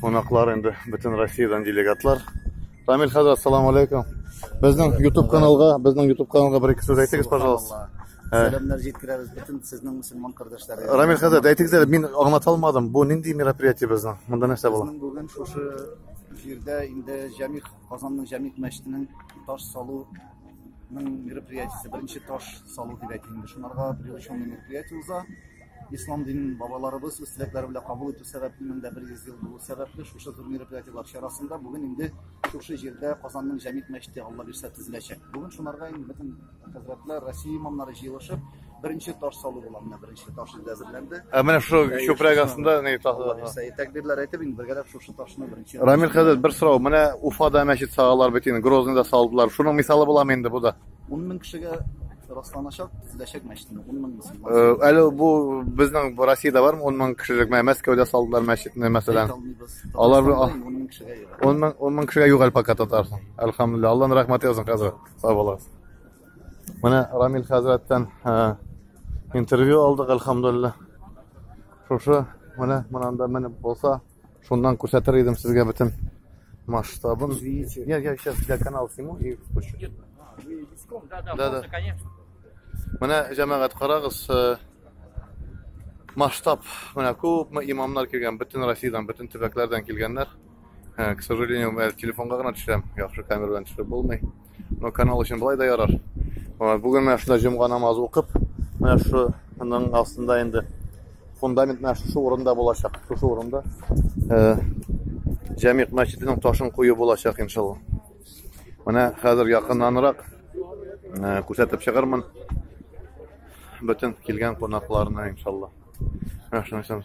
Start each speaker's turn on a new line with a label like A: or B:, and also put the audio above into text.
A: Кунаклар инде бөтен Россиядән делегатлар. Рамил хәзрәт, ассаламу алейкум. Безнең YouTube каналга, безнең YouTube каналга бер ике сүз әйтегез, пожалуйста. Сәламнәр җиткерәбез бөтен сезнең мусульман кардәшләргә. Рамил хәзрәт, әйтегез әле, мин аңлата алмадым. Бу нинди мероприятие безнең? Монда нәрсә була? Безнең бүген шушы җирдә инде Җәмигъ Казанның Җәмигъ мәчетенең таш салу мероприятиесе, беренче таш салу дип әйтелгән. Шунарга приглашенный мероприятие уза. Ислам динен бабаларыбыз үз теләкләре белән кабул итү сәбәпле, 1100 ел булу сәбәпле, шушы зур мероприятиеләр чарасында бүген инде шушы җирдә Казанның Җәмигъ мәчете, Алла бирсә, төзеләчәк. Бүген шунарга инде бөтен хәзрәтләр, Россия имамнары җыелышып, беренче таш салу була, менә беренче таш инде әзерләнде. Ә менә шул чүпрәк астында ни таш? Алла бирсә, тәкбирләр әйтеп, инде бергәләп шушы ташны беренче. Рамил хәзрәт, бер сорау, менә Уфада мәчет салалар бит инде, Грозныйда салдылар, шуның мисалы буламы инде бу да? Ун мең кешегә расланачак төзеләчәк мәчетне ун мең мөселман әле бу безнең россияда бармы ун мең кешелек менә мәскәүдә салдылар мәчетне мәсәлән алар ун мең ун мең кешегә юк әле пока татарстан әлхамдулилля алланың рәхмәте язсын хәзрәт сау булыгыз менә рамил хәзрәттән интервью алдык әлхамдулилля шушы менә монанда менеп булса Шуннан күрсәтер идем сезгә бөтен масштабын. Извините. Я, я сейчас для канала сниму и спущу. Нет, а, вы виском, да, да, Да, да. можно, конечно. Менә җәмәгать карагыз, э, масштаб. Менә күпме имамнар килгән, бөтен Россиядән, бөтен төбәкләрдән килгәннәр. Э, К сожалению, мен телефонга гына төшерәм, яхшы камера белән төшереп булмый. Ну, канал өчен былай да ярар. Бүген менә шунда җомга намазы укып, менә шуның астында инде фундамент менә шушы урында булачак. Шушы урында э, Җәмигъ мәчетенең ташын кую булачак иншалла. Менә хәзер якыннанрак э, күрсәтеп чыгармын бөтен килгән кунакларны иншалла. Менә шуның